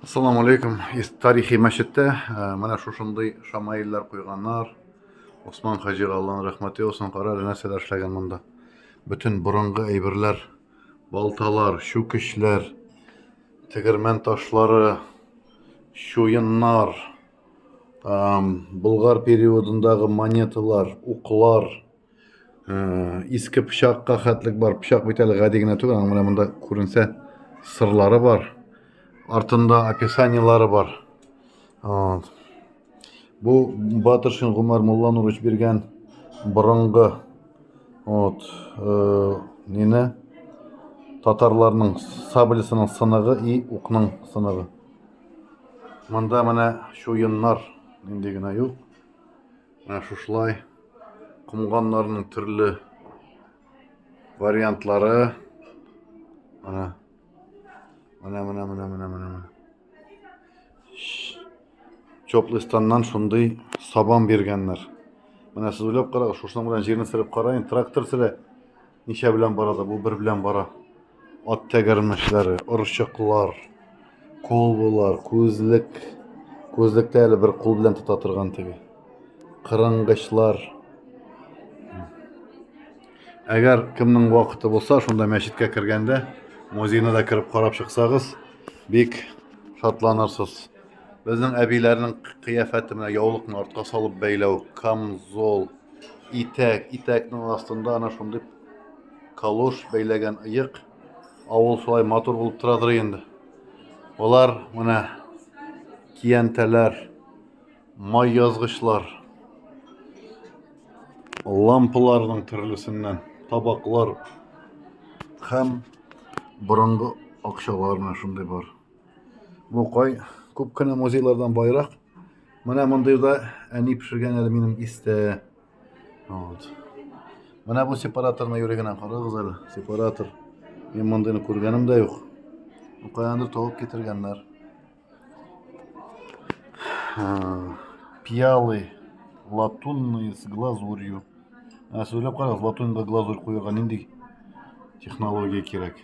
Ассаламу алейкум. Тарихи мәчеттә э, менә шушындый шамаиллар куйганнар. Осман хаҗига Аллаһның рәхмәте яусын. Кара нәрсәләр эшләгән монда. Бөтен борынгы әйберләр, балталар, чүкечләр, тегермән ташлары, чуеннар, болгар периодындагы монеталар, уклар, иске пычакка хәтлек бар. Пычак бит әле гади генә түгел, аның менә монда күренсә сырлары бар. Артында описаниелары бар. Вот. Бу Батыршин Гумар Мулланурович биргән борынгы вот, э, нене татарларның саблесының сыныгы и укның сыныгы. Монда менә шуеннар нинди генә юк. Менә шушылай комганнарның төрле вариантлары. Менә. Менә, менә, менә, менә, менә. Чоплыстаннан шундый сабан биргәннәр. Менә сез уйлап карагыз, шушының белән җирне сырып караен, трактор сыра Ничә белән бара да бу бер белән бара. Ат тәгәрмәчләре, орчыклар, колбылар, күзлек. Күзлектә әле бер кул белән тота торган теге. Кырынгычлар. Әгәр кемнең вакыты булса, шунда мәчеткә кергәндә музейны да кереп карап чыксагыз, бик шатланырсыз. Безнең әбиләрнең кыяфәте менә яулыкны артка салып бәйләү, камзол, итәк, итәкнең астында ана шундый калош бәйләгән ыек. Авыл шулай матур булып торадыр инде. Алар менә киянтәләр, май язгычлар, лампаларның төрлесеннән табаклар һәм борынгы акчалар менә шундый бар. Мукай күп кенә музейлардан байрак. Менә мондый да әни пешергән әле минем истә. Вот. Менә бу сепараторны юри генә карагыз әле. Сепаратор. Мин мондыйны күргәнем дә юк. Каяндыр табып китергәннәр. Пиалы латунные с глазурью. Ә сөйләп карагыз, латуньга глазурь куярга нинди технология кирәк?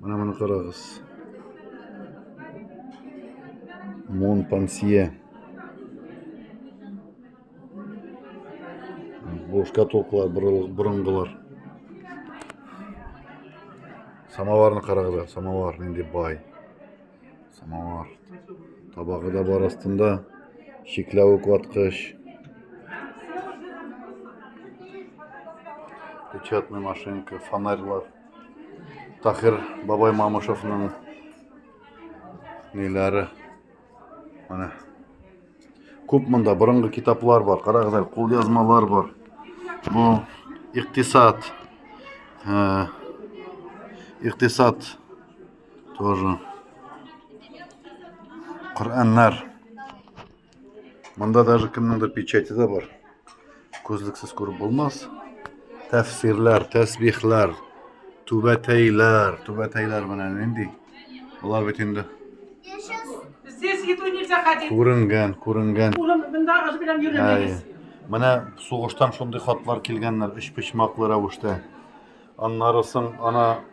Менә моны карагыз. Мон Пансье. Бу шкатулкалар борынгылар. Самоварны карагыз, самовар нинди бай. Самовар. Табагы да бар астында. Чикләвек ваткыч. Печатный машинка, фонарьлар. Тахир бабай Мамышевның ниләре. Менә. Күп монда борынгы китаплар бар. Карагыз әле, кул язмалар бар. Бу иктисад. Э, иктисад Тоже. Коръәннәр. Монда даже кемнеңдер печати да бар. Күзлексез күреп булмас. Тәфсирләр, тәсбихләр, түбәтәйләр, түбәтәйләр менә нинди. Болар бит инде Здесь еду нельзя ходить. күренгән, күренгән. Улым, мында аш белән Әй. йөрмәгез. Менә сугыштан шундый хатлар килгәннәр, өч почмаклы рәвештә. Аннары соң ана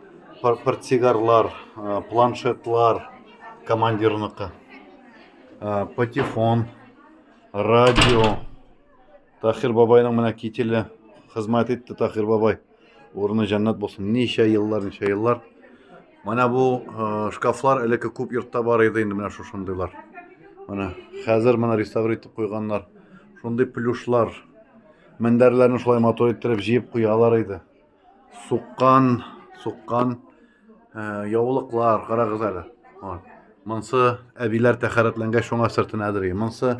портсигарлар, э, планшетлар командирныкы. Э, патефон, радио. Тахир бабайның менә кителе хезмәт итте Тахир бабай. Урыны җәннәт булсын. Ничә еллар, ничә еллар. Менә бу э, шкафлар элекке күп йортта бар иде инде менә шушындыйлар. Менә хәзер менә реставр итеп куйганнар. Шундый плюшлар, Мендәрләрне шулай матур иттереп җыеп куялар иде. Суккан, суккан э, яулыклар, карагыз әле. Вот. Монсы әбиләр тәхәрәтләнгәч шуңа сыртына әзерли. Монсы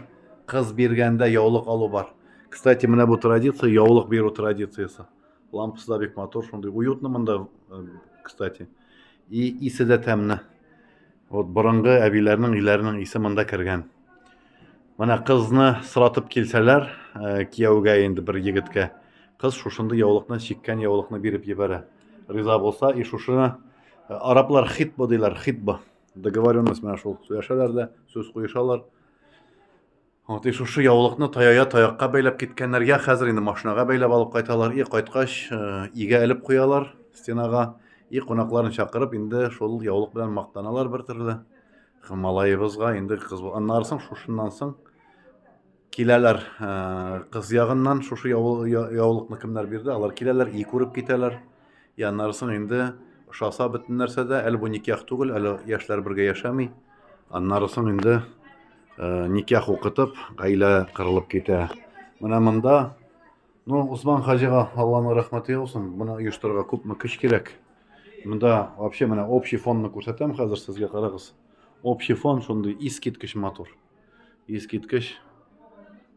кыз биргәндә яулык алу бар. Кстати, менә бу традиция, яулык бирү традициясе. Лампасы да бик матур, шундый уютно монда, э, кстати. И исе дә тәмле. Вот борынгы әбиләрнең өйләренең исе монда кергән. Менә кызны сратып килсәләр, э, кияүгә инде бер егеткә, кыз шушынды яулыкны, чиккән яулыкны биреп җибәрә. Риза булса, и шушыны э, араплар хитба диләр, хитба. Договоренность менә шул сөйләшәләр дә, сүз куешалар. Вот и шушы яулыкны таяя таякка бәйләп киткәннәр. Я хәзер инде машинага бәйләп алып кайталар. И кайткач, э, игә элеп куялар стенага. И кунакларын чакырып инде шул яулык белән мактаналар бер төрле. Малаебызга инде кыз аннары соң шушыннан соң киләләр кыз ягыннан шушы яулыкны кемнәр бирде алар киләләр и күреп китәләр и аннары соң инде ошаса бөтен нәрсә дә әле бу никях түгел әле яшьләр бергә яшәми аннары соң инде никях укытып гаилә кырылып китә менә монда Ну, Усман хаҗига Алланың рәхмәте яусын. Моны оештырырга күпме көч кирәк. Монда вообще менә общий фонны күрсәтәм хәзер сезгә карагыз. Общий фон шундый искиткеч матур. Искиткеч.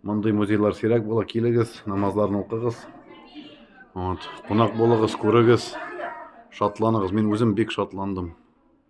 Мондый музейлар сирәк була. Килегез, намазларны укыгыз. Вот, кунак булыгыз, күрегез. Шатланыгыз. Мин үзем бик шатландым.